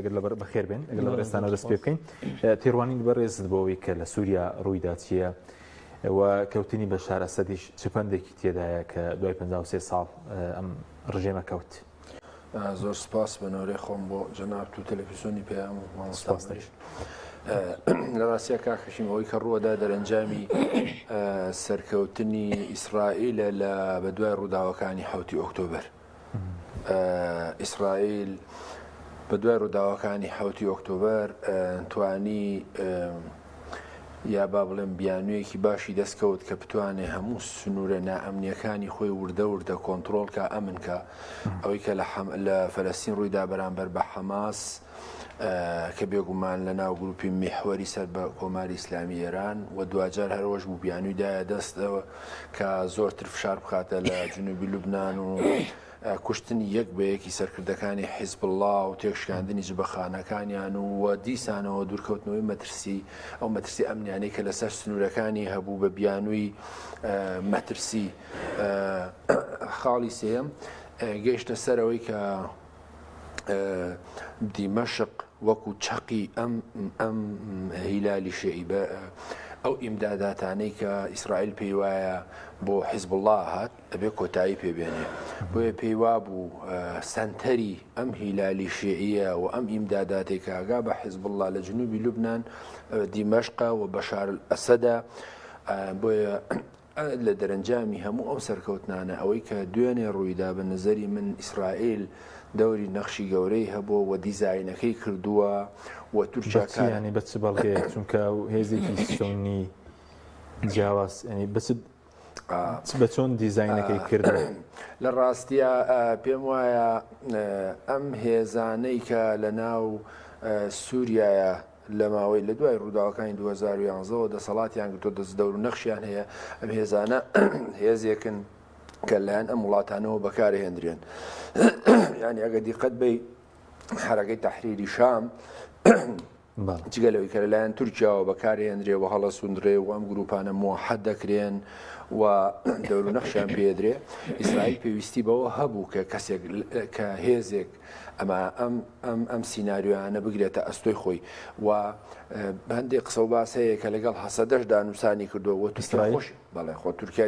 گەر لەبەر بەخێر بێن گەر لەبەر ئێستانە دەست پێ بکەین تێڕوانین بەڕێزت بۆەوەی کە لە سووریا ڕوویدا چییە و کەوتنی بە شارە سەدیش چ پندێکی تێدایە کە دوای 53 ساڵ ئەم ڕژێمە کەوت. زۆر سپاس بەنەورەی خۆم بۆ جەناب و تەلەفیزۆنی پێیان و مامۆستاستش لە ڕاستە کاکەشیم ئەوەی کە ڕووەدا دەرەنجامی سەرکەوتنی ئیسرائیلە لە بەدوای ڕووداوەکانی حوتی ئۆکتۆبەر. ئیسرائیل بەدوای ڕووداوەکانی حوتی ئۆکتۆبەر توانی یا با بڵێن بیانویەکی باشی دەستکەوت کە بتوانێ هەموو سنوورە نائەمنیەکانی خۆی وردە وردە کۆنتترۆلکە ئەمنکە ئەوەی کە لە فەلەستین ڕوویدا بەرامبەر بە حەماس کە بێگومان لە ناو گروپی میحوەری سەر بە کۆماری ئیسلامی ئێران و دوجار هەرۆژ بوو بیانوی دایە دەستەوە کە زۆرتر فشار بخاتە لە جنوبی لوبناان و کوشتنی یەک بە یەکی سەرکردەکانی حیزب الله و تێکشکاندنی جبەخانەکانیان و و دیسانەوە دوورکەوتنەوەی مەترسی ئەو مەترسی ئەمنیانی کە لەسەر سنوورەکانی هەبوو بە بیانووی مەترسی خاڵی سێم گەیشتە سەرەوەی کە دیمەشق وەکو چەقی ئەم ئەم هیلالی شعی بە ئەو ئیمداداتانەی کە ئیسرائیل پێی وایە بۆ حیزب الله هات ئەبێ کۆتایی پێبێنێ بۆیە پێی وا بوو سنتەری ئەم هیلالی شعیە و ئەم ئیمداداتی کاگا بە حیزب الله لە جنوبی لوبناان دیمەشقا و بەشار ئەسەدا بۆیە لە دەرەنجامی هەموو ئەو سەرکەوتنانە، ئەوەی کە دوێنێ ڕوویدا بە نەزەری من ئیسرائیل دەوری نەخشی گەورەی هەبووە و دیزاینەکەی کردووە و تورکیا کارە. بە چ یانی بە چ بەڵگەیەک؟ چونکە ئەو هێزێکی سوننی جیاواز یانی بە چ بە چۆن دیزاینەکەی کردووە؟ لە ڕاستیا پێم وایە ئەم هێزانەی کە لە ناو سوریایە، لە ماوەی لە دوای ڕووداوەکانی دوو هەزار و یانزە وە دەسەڵاتیان گرتووە دەست دەور و نەخشیان هەیە ئەم هێزانە هێزێکن کە لایەن ئەم وڵاتانەوە بەکارهێندرێن یعنی ئەگە دیقەت بی حرەکەی تحریری شام جگە لەوەی کە لەلایەن تورکیاوە بەکارهێنرێ و هەڵە سوندرێ و ئەم گروپانە مۆحەد دەکرێن و دەور نەخشیان پێدرێ ئیسرائیل پێویستی بەوە هەبوو کە کەسێک کە هێزێک ئەما ئەم ئەم ئەم سیناریۆیانە بگرێتە ئەستۆی خۆی و هەندێک قسە و باس هەیە کە لەگەڵ هەسەدەش دانوسانی کردو وە تورکیاش بەڵێ خۆ تورکیا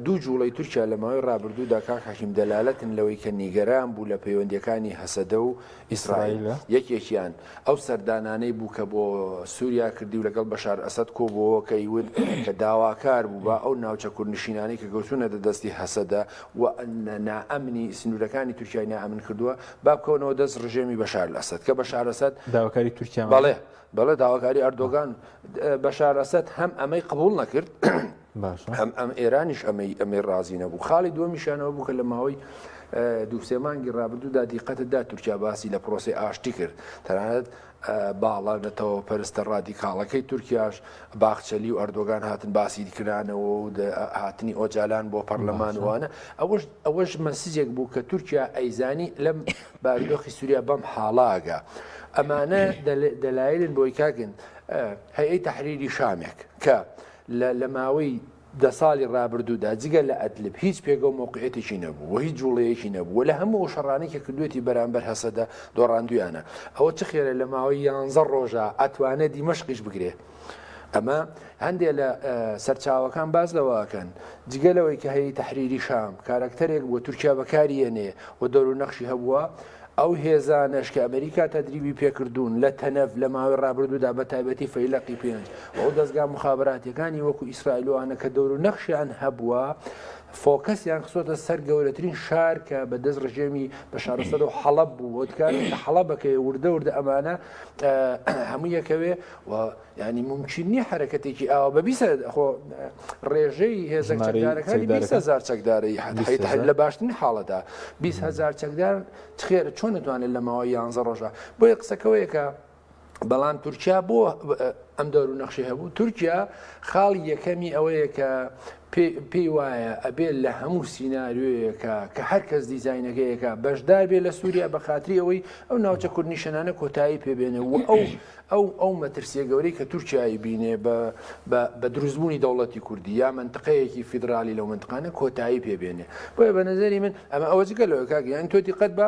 دوو جوڵی تورکیا لە ماوەی ڕابردوودا کاک حەکیم دەلالەتن لەوەی کە نیگەران بوو لە پەیوەندیەکانی هەسەدە و ئیسرائیل یەکێکیان ئەو سەردانانەی بوو کە بۆ سووریا کردی و لەگەڵ بەشار ئەسەد کۆبووەوە کەی ون کە داواکار بوو بە ئەو ناوچە کوردنشینانی کە گەوتونەتە دەستی هەسەدە و نائەمنی سنورەکانی تورکیای نائەمن کردووە با بکەونەوە دەست ڕژێمی بەشار لەسەد کە بەشار لەسەد داواکاری تورکیا بەڵێ بەڵێ داواکاری ئەردۆگان بەشار لەسەد هەم ئەمەی قبول نەکرد هەم ئەم ئێرانیش ئەمەی ئەمەی ڕازی نەبوو خاڵی دووەمیشانەوە بوو کە لە ماوەی دووسێمانگی ڕابردوودا دیقەتدا تورکیا باسی لە پرۆسی ئاشتی کرد تەنانەت باڵە نەتەوە پەرستە ڕادیکاڵەکەی تورکیاش باخچەلی و ئەردۆگان هاتن باسی کرانەوە و هاتنی ئۆجالان بۆ پەرلەمان وانە ئەوەش ئەوەش مەسیجێک بوو کە تورکیا ئەیزانی لەم باردۆخی سووریا بەم حاڵاگە ئەمانە دەلایلن بۆی کاگن هەیەی تحریری شامێک کە لە لە ماوەی دە ساڵی ڕابردوودا جگە لە ئەدلب هیچ پێگە و مەوقعیەتێکی نەبوو و هیچ جووڵەیەکی نەبوو و لە هەموو ئەو شەڕانەی کە کردوویەتی بەرامبەر هەسەدە دۆڕاندوویانە. ئەوە چ خێرە لە ماوەی یانزە ڕۆژا ئەتوانێ دیمەشقیش بگرێ. ئەمە هەندێ لە سەرچاوەکان باس لەوە ئەکەن، جگە لەوەی کە هەیئەی تەحریری شام کارەکتەرێک بووە تورکیا بەکاری یەنێ و دەورونەخشی هەبووە، ئەو هێزانەش کە ئەمریکا تەدریبی پێکردوون لە تەنەف لە ماوەی ڕابردوودا بە تایبەتی فەیلەقی پێنج و ئەو دەزگا موخابراتیەکانی وەکو ئیسرائیلوانە کە دەورو نەخشیان هەبووە فۆکەسیان خسۆتە سەر گەورەترین شار کە بە دەست ڕژێمی بە شارسەر و حەڵب بوو وتکار حەڵبەکەی وردە وردە ئەمانە هەموو یەکەوێ و یانی مومکین نیە حەرەکەتێکی ئاوا بە بیست هە- خۆ ڕێژەی هێزە ژمارەی چەکدارەکانی چەکدارەکان؟ بیست هەزار چەکدارە یە- حەد- بیست حەیت- هەزار؟ لە باشترین حاڵەتە بیست هەزار چەکدار خێر چۆن دەتوانێت لە ماوەی یانزە ڕۆژە بۆیە قسەکەوەیە کە بەڵام تورکیا بۆ ئەم دەور و نەخشی هەبوو تورکیا خاڵی یەکەمی ئەوەیە کە پێ- پێی وایە ئەبێت لە هەموو سیناریۆیەکە کە هەر کەس دیزاینەکەیەکە بەشدار بێت لە سووریا بە خاتری ئەوەی ئەو ناوچە کوردنیشەنانە کۆتایی پێبێنێ و ئەو ئەو ئەو مەترسیە گەورەی کە تورکیا ئەیبینێ بە بە بە دروستبوونی دەوڵەتی کوردی یا مەنتقەیەکی فیدرالی لەو مەنتقانە کۆتایی پێ بێنێ بۆیە بە نەزەری من ئەمە ئەوە جگە لەوە کاک یان تۆ دیقەت بە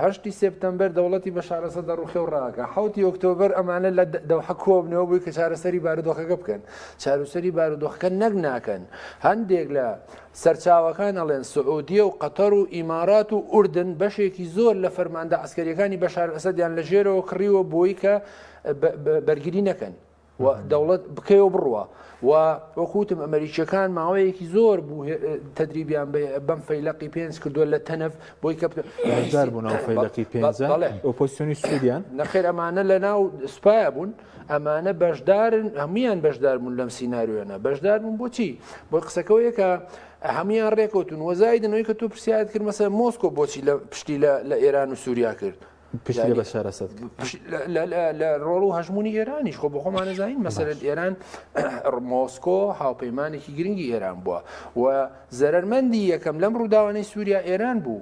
هەشتی سپتەمبەر دەوڵەتی بە شارەسە دەڕوخێ و ڕاکە حوتی ئۆکتۆبەر ئەمانە لە دەوحە کۆبنەوە بووی کە چارەسەری بارودۆخەکە بکەن چاروسەری بارودۆخەکە نەک ناکەن هەندێک لە سەرچاوەکان ئەڵێن سعودیە و قەتەر و ئیمارات و ئوردن بەشێکی زۆر لە فەرماندە عسکەریەکانی بەشار ئەسەدیان لە ژێرەوە کڕیوە بۆی کە بەرگری نەکەن و دەوڵەت بکەوە بڕوە و وەکوتم ئەمریکیەکان ماوەیەکی زۆر بوو تدریبیان بەم فەیلقی پێنج کردووە لە تەنف بۆی کە بوون فەیلقی پێ ئۆپۆسیۆنی سوودیان نەخێر ئەمانە لە ناو سوپایە بوون ئەمانە بەشدارن هەمویان بەشداربوون لەم سینناریۆیانە بەشداربوون بۆچی بۆ قسەکەەوە یەکە هەمویان ڕێکوتون وەزایدنەوەی کە تۆ پرسیارت کرد مەسە مۆسکۆ بۆچی لە پشتی لە ئێران و سووریا کرد پشتی بە شارەسەت لە ڕۆڵ و هەژمونی ئێرانیش خۆ بەخۆمانەزانین مەسەرت ئێران مۆسکۆ هاوپەیمانێکی گرنگی ئێران بووە و زەرمەندی یەکەم لەم ڕووداوانەی سووریا ئێران بوو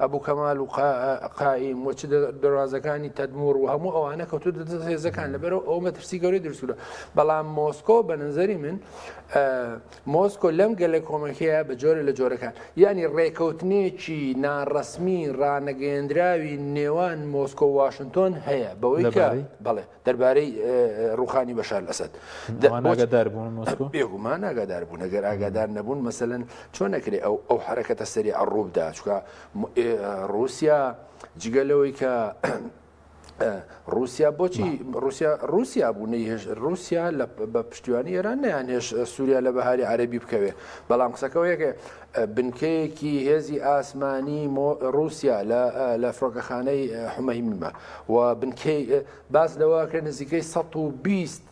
ئەبو کەمال و قائیم و دەروازەکانی تەدمور و هەموو ئەوانە کەوتو دەدە هێزەکان لەبەرەوە ئەو مەترسی گەوری درسوورە بەڵام مۆسکۆ بە نظری من مۆسکۆ لەم گەلە کۆمەکەیە بە جۆرە لە جۆرەکان ینی ڕێکەوتنێکی ناڕسمی ڕانەگەێندراوی نێوان مۆسکۆ واشنتۆن هەیە بەوەی بڵێ دەربارەی ڕوخانی بەشار ئەسد بێگومان ئاگادار بوون ئەگەر ئاگادار نەبوون مەسەن چۆ نەکرێ ئەو ئەو حرەکەتە سەری ئەڕووبدا چکە رووسیا جگە لەوەی کە رووسیا بۆچی رووسیا رووسیا بوو نەیهێش رووسیا لە بە پشتیوانی ئێران نیان هێش سووریا لە بەهاری عەربی بکەوێ بەڵام قسەکەەوە یەکێ بنکەیەکی هێزی ئاسمانی ڕووسیا لە فڕۆکەخانەی حمەیمە و باس لەوەکرێت نزیکەی 120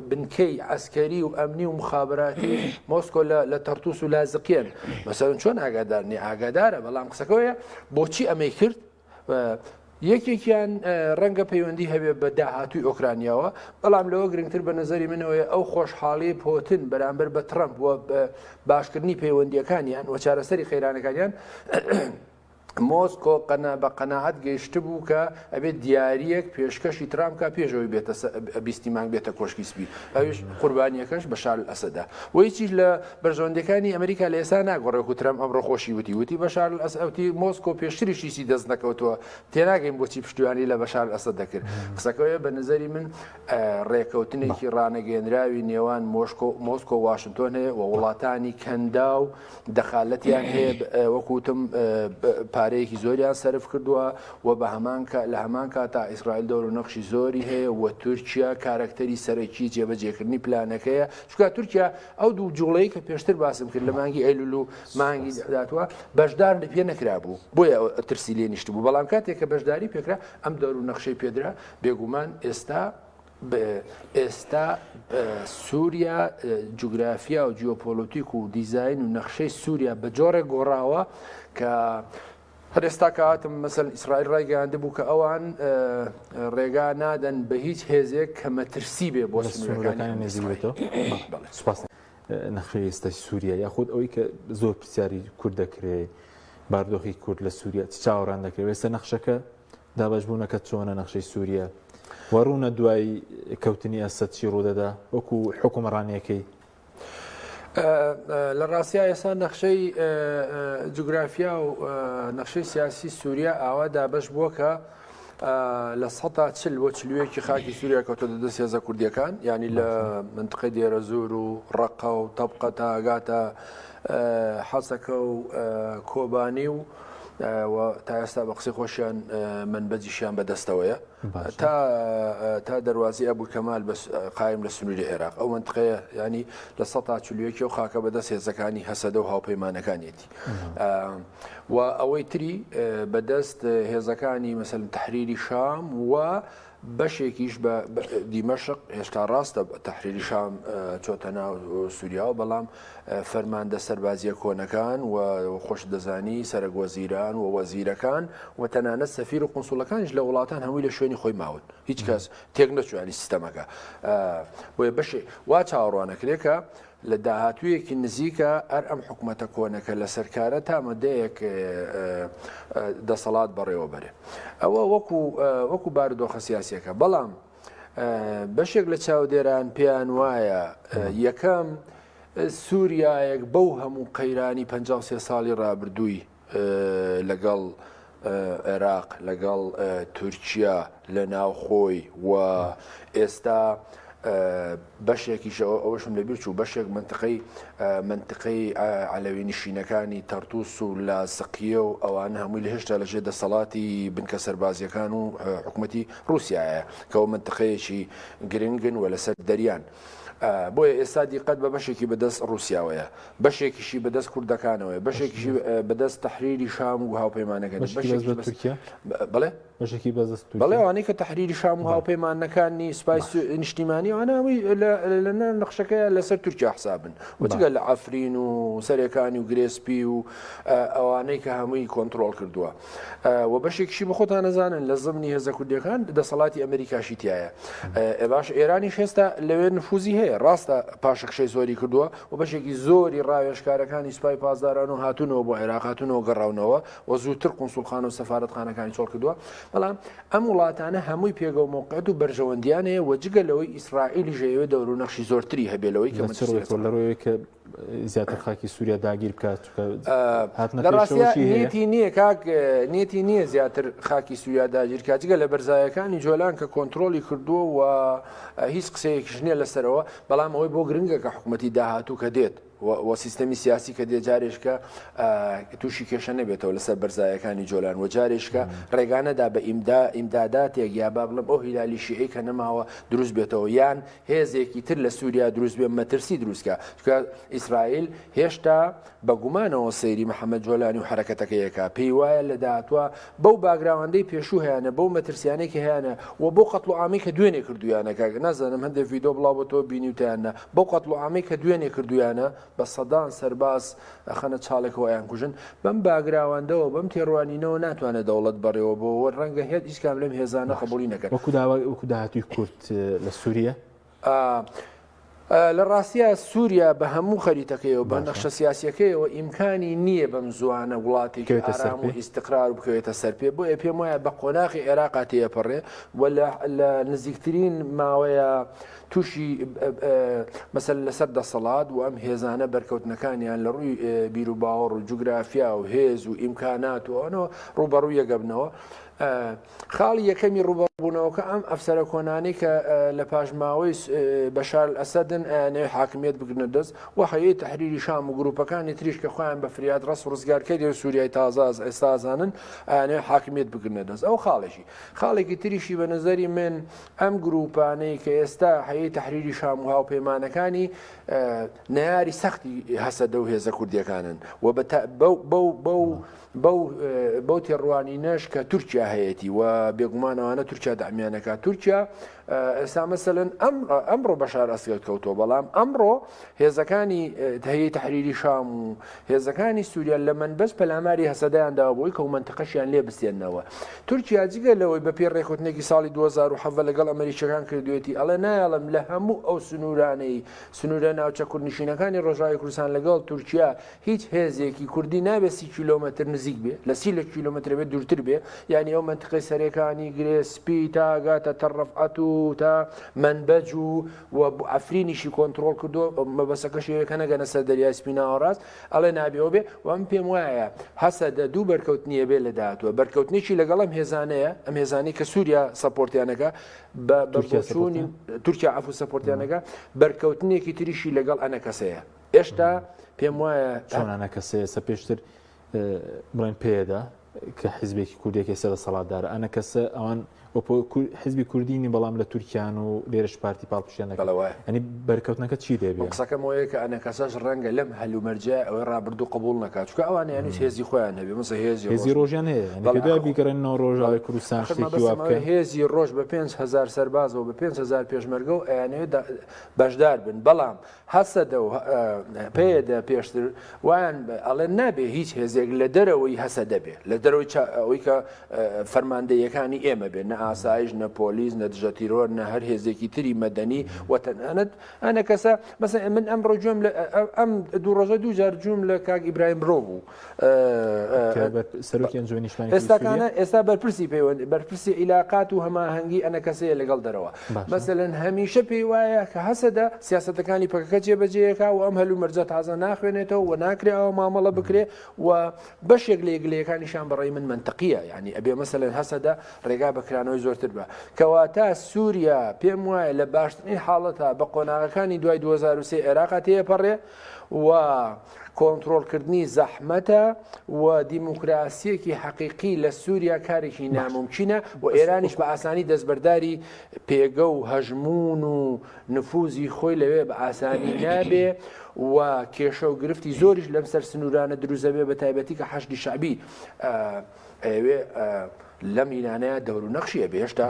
بنکەی ئەسکەری و ئەمنی و مخابراتی مۆسکۆ لە تەرتوس و لازقیێن مەسەرن چۆن ئاگادارنی ئاگادارە بەڵام قسەکەەیە بۆچی ئەمەی کرد یەکێکیان ڕەنگە پەیوەندی هەبێت بە داهاتوی ئۆکرانیاوە بەڵام لەوە گرنگتر بە نظری منەوەی ئەو خۆشحاڵی پۆتن بەرامبەر بە ترەمپ وە باشکردنی پەیوەندیەکانیان و چارەسەری قەیرانەکانیان مۆسکۆ قەنا بە قەنەعات گەیشت بوو کە ئەبێت دیارریەک پێشکەشی ترامکە پێشەوەی بێتە بیستی مانگ بێتە کۆشکی سپی ئەوش قوربانیەکەش بە شار ئەسەدا وەیچیش لە بەرژەوەندیەکانی ئەمریکا لە ئێستا ناگۆڕێ وەکو ترەمپ ئەمڕۆ خۆشی وتی وتی بەشار الاسد ئەوتی مۆسکۆ پێشتریش هیچی دەست نەکەوتووە تێناگەین بۆچی پشتیوانی لە بەشار الاسد دەکرد قسەکەوێ بە نزەری من ڕێکەوتنێکی ڕانەگەێنراوی نێوان مۆشکۆ مۆسکۆ واشنتۆن هەیە و وڵاتانی کەندا و دەخالەتیان هەیە وەکوتم پارەیەکی زۆریان سرف کردووە و بە هەمان لە هەمان کاتا ئیسرائیل دەور و نەخشی زۆری هەیە و تورکیا کارەکتەری سەرەکی جێبەجێکردنی پلانەکەیە چکا تورکیا ئەو دوو جوڵەی کە پێشتر باسم کرد لە مانگی ئەیلول و مانگی داتوە بەشدار لە پێ نەکرابوو بۆیە ترسی لێ نیشت بوو بەڵام کاتێک کە بەشداری پێکرا ئەم دەور و نەخشەی پێدرا بێگومان ئێستا ئێستا سووریا جوگرافیا و جیۆپۆلۆتیک و دیزین و نەخشەی سووریا بە جۆڕێک گۆڕاوە کە هەر ئێستا کە هاتم مەسەن ئیسرائیل ڕایگەیاندبوو کە ئەوان ڕێگا نادەن بە هیچ هێزێک کە مەترسی بێ بۆ سنوورەکانی نزیکێتەوە. نەخشەی ئێستای سووریا یاخود ئەوەی کە زۆر پرسیاری کورد دەکرێ باردۆخی کورد لە سووریا چ چاوەڕان دەکرێت ئێستا نەخشەکە دابشبوونەکە چۆنە نەخشەی سووریا وەڕوونە دوای کەوتنی ئەسەد چی ڕوودەدا وەکو حکومڕانیەکەی لە ڕاستیا ئێستا نەخشەی جوگرافیا و نەخشەی سیاسی سووریا ئاوا دابش بووە کە لە سەتا چل بۆ چلوەیەکی خاکی سووریا کەوتە دەدەست هێزە کوردیەکان ینی لە منتقی دێرە زۆر و ڕقە و تەبقە تاگاتە حەسەکە و کۆبانی و و تا ئێستا بە قسەی خۆشیان منبەجیشیان بەدەستەوەیە تا تا دەواازی ئەبوو کەمال بە قایم لە سنووری عێراق ئەو منتقەیە ینی لە سە تا چلیەکی و خاکە بەدەست هێزەکانی هەسەدە و هاوپەیمانەکانیەتی و ئەوەی تری بەدەست هێزەکانی مەسەل تحریری شام و بەشێکیش بە دیمەشق، هێشتا ڕاستە تەحریری شام چۆتە ناو سووریاوە، بەڵام فەرماندە سەربازییە کۆنەکان و خۆشت دەزانی سەرەک وەزیران و وەزیرەکان و تەنانەت سەفیر و قونسوڵەکانیش لە وڵاتان هەمووی لە شوێنی خۆی ماون هیچ کەس تێک نەچوانی سیستەمەکە بۆیە بەشێ وا چاوەڕوانەکرێکە لە داهاتوویەکی نزیکا ئەر ئەم حکومەتە کۆنەکە لەسەر کارە تا مەدەیەک دەسەڵات بەڕێوە بەرێ ئەوە وەکو وەکو بارودۆخە سیاسەکە بەڵام بەشێک لە چاودێران پێیان وایە یەکەم سووریایەک بەو هەموو قەیرانی 53 ساڵی ڕابردووی لەگەڵ عێراق، لەگەڵ تورکیا لە ناوخۆی و ئێستا بەشێکیشەوە ئەوەشم لەبیر چوو بەشێک منتقەی منتقەی عەلەوی نشینەکانی تەرتوس و لاسقیە و ئەوانە هەمووی لە هێشتا لەژێ دەسەڵاتی بنکە سەربازیەکان و حکوومەتی رووسایە کەەوە منتقەیەکی گرنگن و لەسەر دەریان. بۆیە ئێستا دیقەت بە بەشێکی بەدەست رووسیاوەیە بەشێکیشی بەدەست کوردەکانەوەیە بەشێکیشی بەدەست تەحریری شام و هاوپەیمانەکانی بەشێکی بەشێکی بەس بەس تورکیا بڵێ بەشێکی بەزست بەڵێ تورکیا ئەوانەی کە تحریری شام و هاوپەیمانەکانی سپای سو- نیشتیمانی ئەوانەوەی لە لە ناو نەخشەکەیە لەسەر تورکیا حسابن وجگە لە عفرین و سەرێکانی و گرێسپی و ئە، ئەوانەی کە هەمووی کۆنتترۆل کردووە ئە، و بەشێکشی بە خۆتان نەزانن لە زمنی هێزە کوردیەکان دەسەڵاتی ئەمریکاشی تایە ئە، باش ئێرانیش هێستا لەوێ نفوزی هەیە ڕاستە پاشەکشەی زۆری کردووە و بەشێکی زۆری ڕاوێژکارەکانی سپای پاسداران و هاتوونەوە بۆ عێراق هاتوونەوە گەڕاونەوە و زووتر قونسوڵخانە و سەفارەتخانەکانی چۆڵ کردووە بەڵام ئەم وڵاتانە هەمووی پێگە و مۆقعەت و بەرژەوەندیان هەیە و جگە لەوەی ئیسرائیلی ژەیەوێ دەور و نەخشی زۆرتری هەبێ لەوەی کە لەڕوەیە کە زیاتر خاکی سووریا داگیر بکات لە ڕاستیەتی نییە کاک نێتی نییە زیاتر خاکی سووریا داگیر کاتجگە لە بەرزایەکانی جۆلان کە کۆنتترۆلی کردووە و هیچ قسەیەکیش نییە لەسەرەوە بەڵام ئەوەی بۆ گرنگە کە حکومەتی داهاتوو کە دێت و سیستەمی سیاسی کە دێ جارێشکە تووشی کێشە نەبێتەوە لەسەر بەرزایەکانی جۆلان و جارێشکە ڕێگانەدا بە ئیمدا ئیمداداتێک یا با بڵم ئەو هیلالی شیعی کە نەماوە دروست بێتەوە یان هێزێکی تر لە سووریا دروست بێ مەترسی دروستکە چکە ئیسرائیل هێشتا بە گومانەوە سەیری محەمەد جۆلانی و حەرەکەتەکەی ئەکا، پێی وایە لە داهاتوا بەو باگراوەندەی پێشوو هەیانە، بەو مەترسیانەی کە هەیانە و بەو قەتڵوعامەی کە دوێنێ کردوویانە کاک، نازانم هەندێ ڤیدۆ بڵاو بۆتەوە بینیوتە یان نا، بەو قەتڵوعامەی کە دوێنێ کردوویانە بە سەدان سەرباز ئەخەنە چاڵێکەوە ئەیانکوژن، بەم باگراوەندەوە بەم تێڕوانینەوە ناتوانێ دەوڵەت بەڕێوە بەوە و رەنگە هێت هیچ کام لەم هێزانە قبوڵی نەکەن. وەکو داهاتووی کورد لە سووریە ئا ئا لە ڕاستیا سووریا بە هەموو خەریتەکەیەوە بە نەخشە سیاسیەکەیەوە ئیمکانی نییە بەم زووانە وڵاتێکی ئارام و ئیستقرار و بکەوێتە سەر پێ بۆیە پێم وایە بە قۆناغی عێراقا تێیەپەڕێ و لە نزیکترین ماوەیە تووشی مەسەل لەسەر دەسەڵات و ئەم هێزانە بەرکەوتنەکانیان لە ڕووی بیروباوەڕ و جوگرافیا و هێز و ئیمکانات و ئەوەوە ڕوبەڕوویەگەبنەوە خاڵی یەکەمی ڕووبەڕووبوونەوەکە ئەم ئەفسەرە کۆنانەی کە لە پاشماوەی بەشار ئەسەدن ئەیانەوێت حاکمیت بگرنە دەست و حەیەی تحریری شام و گروپەکانی تریش کە خۆیان بە فریاد ڕست ڕزگارکەری و سووریای تازاز ئێستازانن ئەیانەوێت حاکمیت بگرنە دەست ئەو خاڵێکی خاڵێکی تریشی بە نظری من ئەم گروپانەی کە ئێستا حەیەی تحریری شام و هاوپەیمانەکانی ناری سەختی هەسەدە و هێزە کوردیەکانن و بە بەو بەو تێڕوانینەش کە تورکیا هەیەتی و بێگومان ئەوانە تورکیا دامیانەکە تورکیا ئێستا مەسەن ئەم ئەمڕۆ بەشار ئەسگەل کەوتەوە بەڵام ئەمڕۆ هێزەکانی هەیە تحریری شام و هێزەکانی سووریا لە من بەس پەلاماری هەسەدایاندا بۆی کە منتقەشیان لێ بستێنەوە تورکیا جگە لەوەی بە پێ ڕێکوتنێکی ساڵی 2007 لەگەڵ ئەمریکەکان کردوێتی ئەڵێ نایڵم لە هەموو ئەو سنوورانەی سنوورە ناوچە کوردنشینەکانی ڕۆژاوی کوردستان لەگەڵ تورکیا هیچ هێزێکی کوردی نابێ سی کیلۆمەتر نزیک بێ لە سی لە کیلۆمەترە بێ دوورتر بێ یانی ئەو مەنتقەی سەرێکانی گرێ سپی تا گاتە تەڕەفعەت و تا مەنبەج و و عەفرینیشی کۆنتڕۆڵ کردووە مەبەسەکەش ئەوەیە کە نەگەنە سەر دەریای سپی ناوەڕاست ئەڵێ نابێ ئەو بێ و من پێم وایە هەسەدە دوو بەرکەوتنی ئەبێ لە داهاتووە بەرکەوتنێکی لەگەڵ ئەم هێزانەیە ئەم هێزانەی کە سووریا سەپۆرتیانەکە بە بۆچوونی تورکیا عەفوو سەپۆرتیانەکە بەرکەوتنێکی تریشی لەگەڵ ئەنەکەسەیە هێشتا پێم وایە چۆنانە کەسەیەسە پێشتر بڵێن پێدا کە حیزبێکی کوردێکی سەر سەڵاتدار ئەە کەسە ئەوان حزبی کوردینی بەڵام لە تورکیان و لێرش پارتی پاڵپشتێنەکەڵەوە ئەنی بەرکەوتنەکە چی دەبێ قسەکەم وەیە کە ئەە کەسەش ڕەنگە لەم هەلومەرجە ئەوەی ڕابردوو قبول نکات چکە ئەوان یانی هێزی خۆیان هەبێ مەسە هێزی هێزی ڕۆژیان هەیە بیگەڕێنەوە ڕۆژاوی کوردستان هێزی ڕۆژ بە 5هزار سەربازەوە بە 5هزار پێشمەرگە و ئەیانەوێت بەشدار بن بەڵام هەسەدە و پەیەدە پێشتر وایان ئەڵێن نابێ هیچ هێزێک لە دەرەوەی هەسەدە بێ لە دەرەوەی ئەوی کە فەرماندەیەکانی ئێمە بێ نە ئاسایش نە پۆلیس نە دژە تیرۆر نە هەر هێزێکی تری مەدەنی وەتەنانەت ئەە کەسە مەسە من ئەم ڕۆژم لە ئەم دوو ڕۆژە دوو جار جووم لە کاک ئیبراهیم برۆ بوو ئێستاکانە ئێستا بەرپرسی پەیوەند بەرپرسی عیلااقات و هەماهەنگی ئەنە کەسەیە لەگەڵ دەرەوە مەسەن هەمیشە پێی وایە کە هەسەدە سیاستەکانی پەکەکە جێبەجەیەکە و ئەم هەلو مەرجە تازە ناخوێنێتەوە و ناکرێ ئەوە مامەڵە بکرێ و بەشێک لە یەکلەکانیشان بەڕی من منتەقیە ینی ئەبێ مەسەن هەسەدە ڕێگا بەکرانەوەی زۆرتر بە کەواتە سووریا پێم وایە لە باشترین حاڵەتە بە قۆناغەکانی دوای 2023 عێراقا تێپەڕێ و کۆنترۆڵکردنی زەحمەتە و دیموکراسییەکی حەقیقی لە سووریا کارێکی نامومکینە و ئێرانیش بە ئاسانی دەستبەرداری پێگە و هەژموون و نفوزی خۆی لەوێ بە ئاسانی نابێ و کێشە و گرفتی زۆریش لەم سەر سنوورانە دروزەبێ بە تایبەتی کە حەشدی شەعبی ئەیەوێ لەم ئینانەیە دەورو نەخشی ئەبێ هێشتا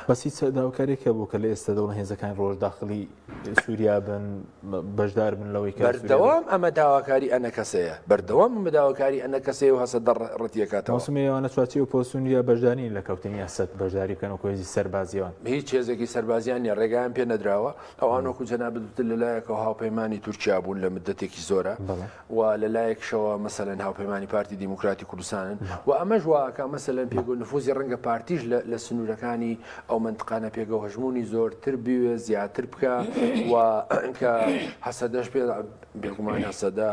بەس هیچ داواکارێک هەبوو کە لە ئێستا دەوڵە هێزەکانی ڕۆژ داخلی سووریا بن بەشدار بن لەوەی کە بەردەوام ئەمە داواکاری ئەنە کەسەیە بەردەوام ئەمە داواکاری ئەنە کەسەیە و هەسە دەڕەتیەکاتەوە سمەیەوانە چواچی و پۆسونیا بەشدانی لە کەوتنی ئەسد بەشداری بکەن و کۆێزی سەربازیەوە هیچ هێزێکی سەربازیان نیە ڕێگایان پێ نەدراوە ئەوانۆکو جەنابدوتر لەلایەکەوە هاوپەیمانانی تورکیا بوون لە مدەتێکی زۆرە و لە لایەکشەوە مەسەلەن هاوپەیمانانی پارتی دیموکراتی کوردستانن و ئەمەش واکە مەسەلەن پێگە و نفوزی ڕەنگە پارتیش لە سنوورەکانی ئەو منتقانە پێگە و هەژمونی زۆرتر بوێ زیاتر بکە و کە هەسەدەش پێ بێگومان هەسەدە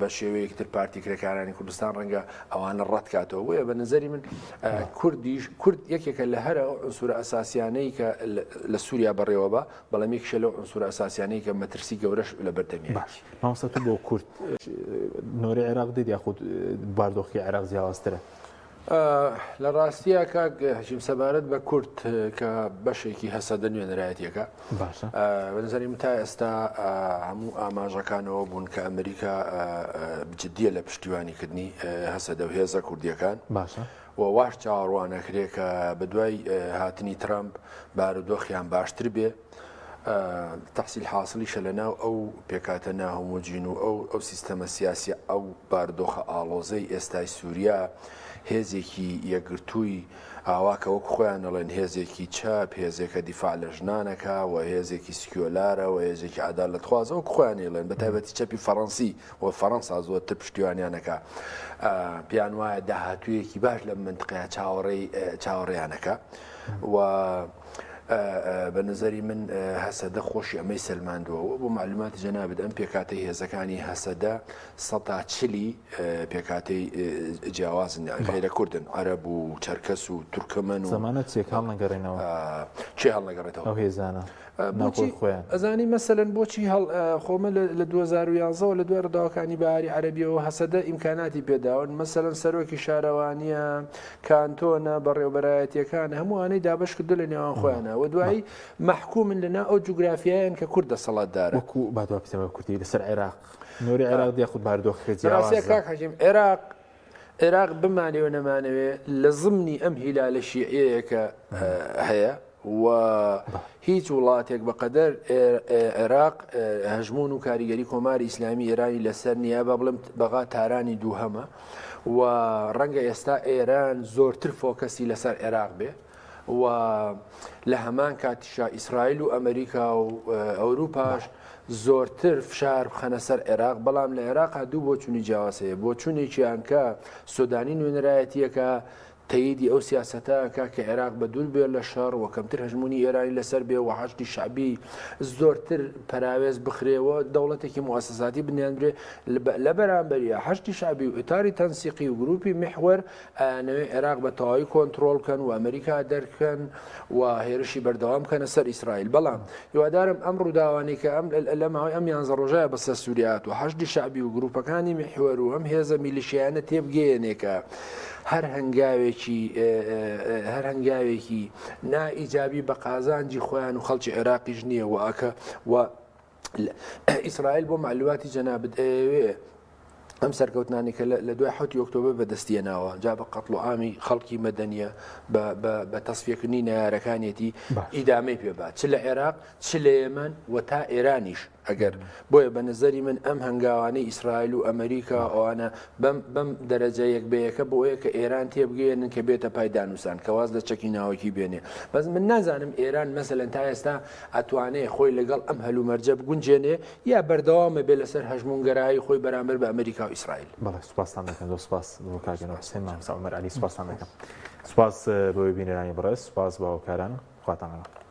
بە شێوەیەک تر پارتی کرێکارانی کوردستان ڕەنگە ئەوانە ڕەتکاتەوە بۆیە بە نظری من کوردیش کورد یەکێکە لە هەرە سوورە ئەساسیانەی کە لە سووریا بەڕێوە بە بەڵام یەکیشە لەو عونسورە ئەساسیانەی کە مەترسی گەورەش لە بەردەمیایەتی. باش مامۆستا تو بۆ کورد نۆرەی عێراق دیت یاخود باردۆخی عێراق جیاوازترە؟ لە ڕاستیە کاک هەژیم سەبارەت بە کورد کە بەشێکی هەسەدە نوێنەرایەتیەکە باشە بەنظریم تا ئێستا هەموو ئاماژەکانەوە بوون کە ئەمریکا جددیە لە پشتیوانیکردنی هەسەدە و هێزە کوردیەکان باشە و واش چاوەڕوانئەکرێ کە بەدوای هاتنی ترەمپ بارودۆخیان باشتر بێ. تەحسیل حاسڵیشە لەناو ئەو پێکاتە ناهۆمۆجین و ئەو ئەو سیستەمە سیاسیە ئەو باردۆخە ئاڵۆزەی ئێستای سوریا هێزێکی یەکگرتووی ئاوا کە وەک خۆیان ئەڵێن هێزێکی چەپ هێزێکە دیفاع لە ژنانەکە و هێزێکی سکیۆلارە و هێزێکی عەدالەتخوازە وەک خۆیان ئەیڵێن بەتایبەتی چەپی فەڕەنسی و فەرەنسا زۆرتر پشتیوانیان ئەکا پێیان وایە داهاتوویەکی باش لەم منتقەیە چاوەڕێی چاوەڕێیان ئەکا و بە نظری من هەسەدە خۆشی ئەمەی سەلماندووەوە بۆ معلوماتی جەنابێت ئەم پێکاتی هێزەکانی هەسەدە سەتا چلی پێکاتی جیاوازن غیرە کوردن عرب و چەرکەس و تورکمن و زمانە چێکاڵ نەگەڕێنەوە چێ هەڵنەگەڕێتەوە هێزانە ناوخۆی خۆیان. بۆچی ئەزانی مەسەلەن بۆچی هەڵ خۆ من لە دوو هەزار و یازدە وە لە دوای ڕداوەکانی بەهاری عەرەبیەوە هەسەدە ئیمکاناتی پێداون مەسەلەن سەرۆکی شارەوانیە کانتۆنە بەڕێوبەرایەتیەکان هەموو ئەوانەی دابەش کردووە لە نێوان خۆیانە وە دوایی مەحکومن لە ناو ئەو جوگرافیایەن کە کورد دەسەڵات دارە. وەکو با دوا بکەینەوە کوردی لەسەر عێراق نۆری عێراق دیاخود باردۆخەکە جیاوازە. بەڕاستی کاک حەکیم عێراق عێراق بمانەوێ و نەمانەوێ لە زمنی ئەم هیلالە شیعیەیە کە هەیە و هیچ وڵاتێک بەقەدەر عێراق هەژمون و کاریگەری کۆماری ئیسلامی ئێرانی لەسەر نییە بە بڵم بەغا تارانی دووهەمە و ڕەنگە ئێستا ئێران زۆرتر فۆکەسی لەسەر عێراق بێ و لە هەمان کاتیشا ئیسرائیل و ئەمریکا و ئەوروپاش زۆرتر فشار بخەنە سەر عێراق بەڵام لە عێراقا دوو بۆچوونی جیاواز هەیە بۆچوونێکیان کە سۆدانی نوێنەرایەتیەکە تەیدی ئەو سیاسەتە کە کە عێراق بە دوور بێت لە شەڕ و کەمتر هەژمونی ئێرانی لەسەر بێ و حەشتی شعبی زۆرتر پراوێز بخرێەوە دەوڵەتێکی موسەساتی بنیانرێ لە بەرامبەریە هەشتی شعبی و ئوتاری تەنسیقی و گروپی محوەر ئەیانەوێ عێراق بە تەواوی کۆنتڕۆڵ بکەن و ئەمریکا دەرکەن و هێرشی بەردەوام بکەنە سەر ئیسرائیل. بەڵام هیوادارم ئەم ڕووداوانەی کە ئەم لە ماوەی ئەم یانزە ڕۆژەیا بەسەر سووریا هاتووە، حەشدی شەعبی و گرووپەکانی میحوەر و ئەم هێزە میلیشیایانە تێبگەیەنێ کە هەر هەنگاوێکی هەر هەنگاوێکی نا ئیجابی بە قازانجی خۆیان و خەڵکی عێراقیش نییە و ئەکە و ئیسرائیل بۆ معلوماتی جەنابت ئەیەوێ ئەم سەرکەوتنانی کە لە دوای حوتی ئۆکتۆبر بەدەستیە ناوە جا بە قەتڵ و ئامی خەڵکی مەدەنیە بە تەسفیەکردنی نارەکانیەتی ئیدامەی پێبات چ لە عێراق چ لە ئێمن و تا ئێرانیش ئەگەر بۆیە بە نظری من ئەم هەنگاوانەی ئیسرائیل و ئەمریکا ئەوانە بەم دەرەجە یەک بەیەکە بۆ ئەوەیە کە ئێران تێبگەێنن کە بێتە پایدانوسان کەواز لە چەکی ناوەکی بێنێ بەس من نازانم ئێران مەسەن تا ئێستا ئەتوانێ خۆی لەگەڵ ئەم هەلومەرجە بگونجێنێ یا بەردەوام ئەبێ لەسەر هەژموونگەرایی خۆی بەرامبەر بە ئەمریکا و ئیسرائیل؟ بەڵێ سوپاستان دەکەم زۆر سوپاس بۆ کاک جەناب حوسێن مامۆستا عومەر عەلی سوپاستان دەکەم سوپاس بۆ بینەرانی بەڕێز سوپاس بە هاوکاران خواتان لەگەڵ